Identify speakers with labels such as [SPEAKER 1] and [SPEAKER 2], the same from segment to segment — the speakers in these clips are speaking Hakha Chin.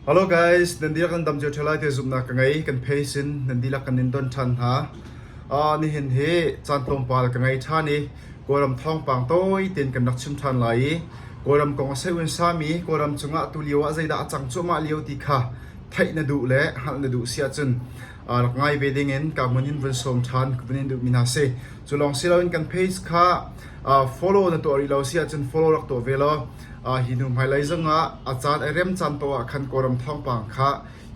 [SPEAKER 1] Hello guys, nan dihlak kan tam cio ṭheo lai ti zumhnak ka ngei. Kan pei sin nan dihlak kan in don ṭhan hna. Uh, nihin hi caan tlawmpal ka ngei ṭhan i Kawlram thawngpang tawi tein kan rak chim ṭhan lai i Kawlram kong a seiun sami Kawlram cungah tu lio ah zeidah a cang cuahmah lio ti kha theih na duh le hngalh na duh si ahcun uh, rak ngai ve ding in ka hmun in vun sawm ṭhan ka vun in duhmi hna si. Cu lawng si loin kan page kha uh, follow na tuah rih lo si ahcun follow rak tuah ve law Hi hnu hmailei zongah a caan ai rem caan paoh ah khan Kawlram thawngpang kha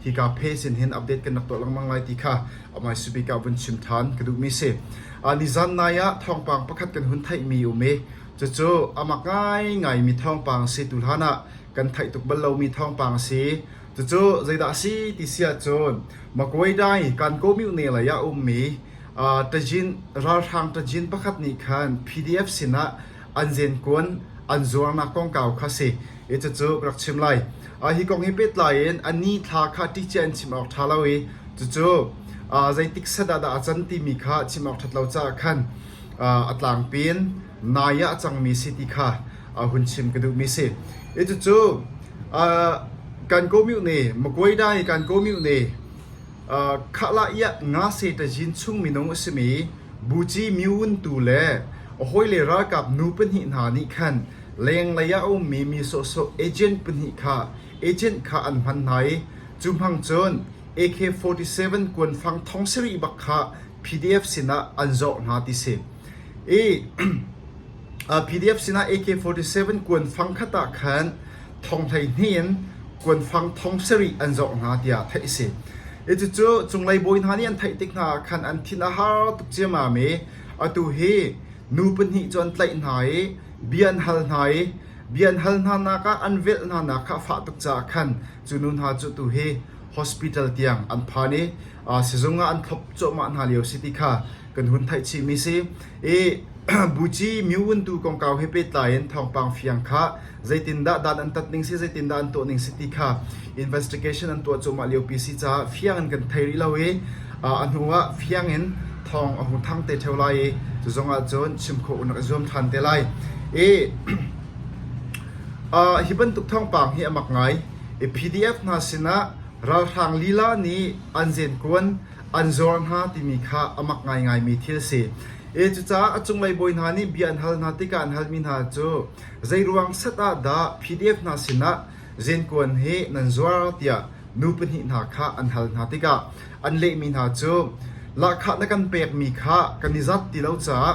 [SPEAKER 1] hika phe sin hin update kan rak tuah lengmang lai ti kha amah hi subik ah vun chim ṭhan ka duhmi a si. Nizan nai ah thawngpang pakhat kan hun theihmi a um i cucu amah ngaingaimi thawngpang a si. Tuhlan ah kan theih tuk bal lomi thawngpang a si. Cucu zeidah a si ti si ahcun Makuedai Kankaw Myone lei ah a ummi tajin ralhrang tajin pakhat nih khan PDF sinah an zenkuan an zuarnak kongkau kha si i cucu ka rak chim lai. Hi kong he pehtlai in a ni thla kha ṭihciah in chim awk ṭha lo i cucu zeitik set ah dah a can timi kha chim awk ṭhat lo caah khan a tlangpi in nai ah a cangmi si ti kha hun chim ka duhmi si. I cucu kan komyu ne Makuaida hi kan komyu ne Khahlah iah Ngase ṭazin chung minung a simi Buci myun tu le a hawile ralkap nu pahnih hna nih khan lenglei ah a ummi mi sawhsawh agent pahnih kha agent kha an hman hna i cu hmang cun AK-47 kuanfang thong sarih bak kha PDF sinah an zawh hna ti si. I PDF sinah AK-47 kuanfang khat ah khan thong hleihnih in kuanfang thong sarih an zoh hna tiah theih a si. Cucu cunglei bawi hna nih an theih tik hna ah khan an thin a har tuk ciammam i atu hi nu pahnih cu an tlaih hna i bia an hal hna i bia an hal hna nak ah an velh hna nak kha a fah tuk caah khan cu nu hna cu tu hi hospital tiang an phan i sizung ah an thlop cuahmah hna lio si ti kha kan hun theih chihmi si. Buci mi vuntu kongkau he pehtlai in thawngpang fiang kha zeitindah dan an tat ning si, zeitindah an tuah ning si ti kha investigation an tuah cuahmah liopi si caah fiang in kan thei rih lo i a hnuah fiang in thawng a hmu thang te ṭheo lai i cuzongah cun chim khawh rak i zuam ṭhan te lai. Hi bantuk thawngpang hi a mak ngai. I PDF hna sinah ralhrang lila nih an zenkuan an zuar hna timi kha a mak ngaingaimi thil a si. E Cucaah a cunglei bawi hna nih bia an hal hna tikah an halmi hna cu zeiruang set ah dah PDF hna sinah zenkuan he nan zuar tiah nu pahnih hna kha an hal hna tikah an lehmi hna cu lahkhah na kan pekmi kha kan i zat ti lo caah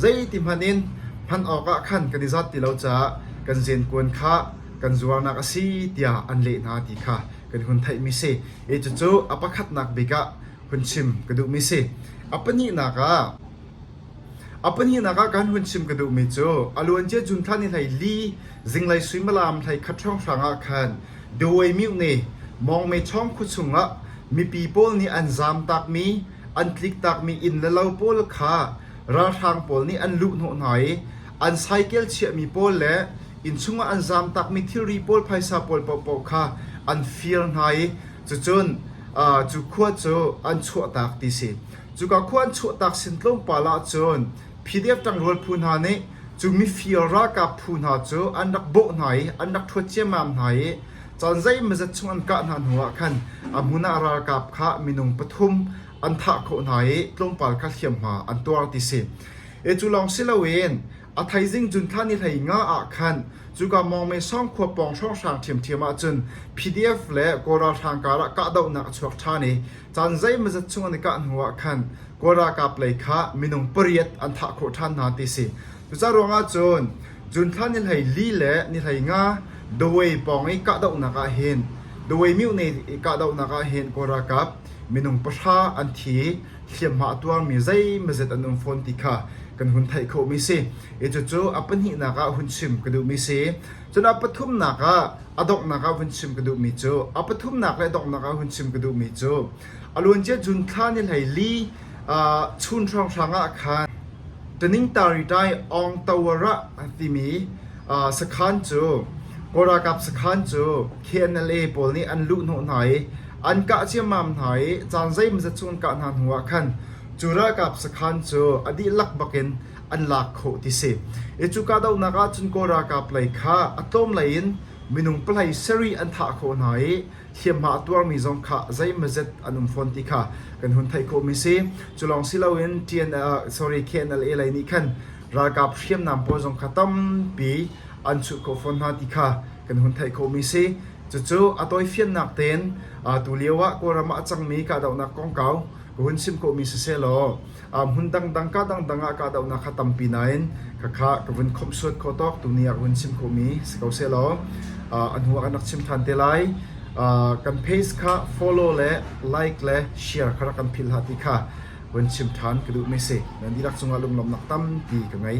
[SPEAKER 1] zeiti hmanh in hman awkah khan kan i zat ti lo caah kan zenkuan kha kan zuarnak a si tiah an leh hna ti kha kan hun theihmi si. E cucu a pakhatnak bik ah hun chim ka duhmi si. A pahnihnak ah a pahnihnak ah kan hun chim ka duhmi cu a luancia June thla ni hlei li zinglei suimilam hlei khat hrawng hrang ah khan Dawei Myu nih Mawngme Chawng khua chungah mipi pawl nih an zamtakmi an tliktakmi inn le lo pawl kha ralhrang pawl nih an luh hnawh hna i an cycle chiahmi pawl le innchung ah an zaamtakmi thilri pawl phaisa pawl paohpaoh kha an fir hna i cucun cu khua cu an chuahtak ti si cuka khua an chuahtak sin tlawmpal ah cun PDF ṭangrual phu hna nih cu mifir ralkap phu hna cu an rak bawh hna i an rak ṭhuat ciammam hna i caan zeimazat chung an kah hna hnuah khan a hmun ah ralkap kha minung pathum an thah khawh hna i tlawmpal kha hliamhma an tuar ti si e cu lawng si loin A theizing cun thla ni hlei nga ah khan cuka mawngmen sawng khua pawng hrawnghrang ṭhiamṭhiam ahcun PDF le Kawl ralhrang karah kahdohnak a chuak ṭhan i caan zeimazat chung an i kah hnuah khan Kawl ralkap lei kha minung pariat an thah khawh ṭhan hna ti si. Cuca ruangah cun cun thla ni hlei li le ni hlei nga Dawei pawng i kahdohnak ah hin Dawei miohne i kahdohnak ah hin Kawl ralkap minung pahra an thi i hliamhma a tuarmi zeimazet an um fawn ti kha kan hun theih khawhmi si. I cucu a pahnihnak ah hun chim ka duhmi si. Cun a pathumnak ah a donghnak ah hun chim ka duhmi cu a pathumnak le donghnak ah hun chim ka duhmi cu a luancia June thla ni hlei li uh, chun hrawnghrang ah khan Tuningtari Tai Ong Tawara timi Sakhan cu Kawl ralkap sakhan cu KNLA pawl nih an luhhnawh hna i an kah ciammam hna i caan zeimawzat chung an kah hna hnu ah khan cu ralkap sakhan cu a dihlak bak in an lak khawh ti si. I cu kahdohnak ahcun Kawl ralkap lei kha a tlawm lei in minung palei sarih an thah khawh hna i hliamhma a tuarmi zong kha zeimawzat an um fawn ti kha kan hun theih khawhmi si. Cu lawng si loin KNLA lei nih khan ralkap hriamnam pawl zong kha tampi an chuh khawh fawn hna ti kha kan hun theih khawhmi a si. Cucu a tawifiannak tein tulio ah Kawlram ah a cangmi kahdohnak kongkau ka hun chim khawhmi sisehlaw hmun dangdang ka dangdang ah kahdohnak kha tampi nain khakha ka vun khomhsuat khawh tawk tu ni ah ka vun chim khawhmi si ko sehlaw a hnu ah kan rak chim ṭhan te lai. Kan page kha follow le like le share kha rak kan philh hlah ti kha Vun chim ṭhan ka duh meh si. Nan dihlak cungah lunglawmhnak tampi ka ngei.